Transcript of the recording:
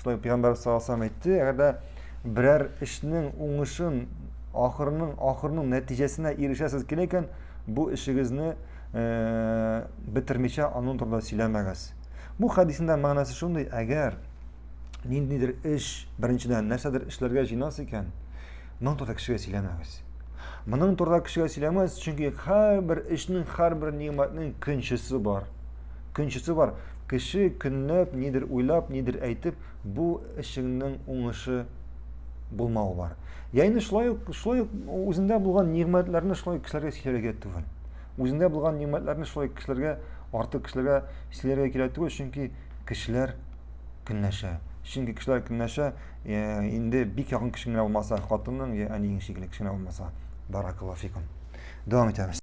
Шулай пәйгамбәр саллаллаху әйтте, әгәр дә берәр эшнең уңышын ахырының ахырының нәтиҗәсенә ирешәсез килә икән, бу эшегезне э, бетермичә аның турында сөйләмәгез. Бу хәдисендә мәгънәсе шундый, әгәр ниндидер эш, беренчедән, нәрсәдер эшләргә җыйнас икән, Моның турында кешегә сөйләмәгез. Моның турында кешегә сөйләмәгез, чөнки һәрбер эшнең, һәрбер нигъмәтнең көнчесе бар. Көнчесе бар. Кеше көнләп, нидер уйлап, нидер әйтеп, бу эшеңнең уңышы булмау бар. Я инде шулай ук, шулай ук үзендә булган нигъмәтләрне шулай кешеләргә сөйләргә түгел. Үзендә булган нигъмәтләрне шулай кешеләргә, артык кешеләргә сөйләргә кирәк түгел, чөнки кешеләр көнләшә. Чөнки кешеләр көнләшә, инде бик якын кешең генә булмаса хатының я әниең шикелле кешең генә булмаса баракаллафикум дәвам итәбез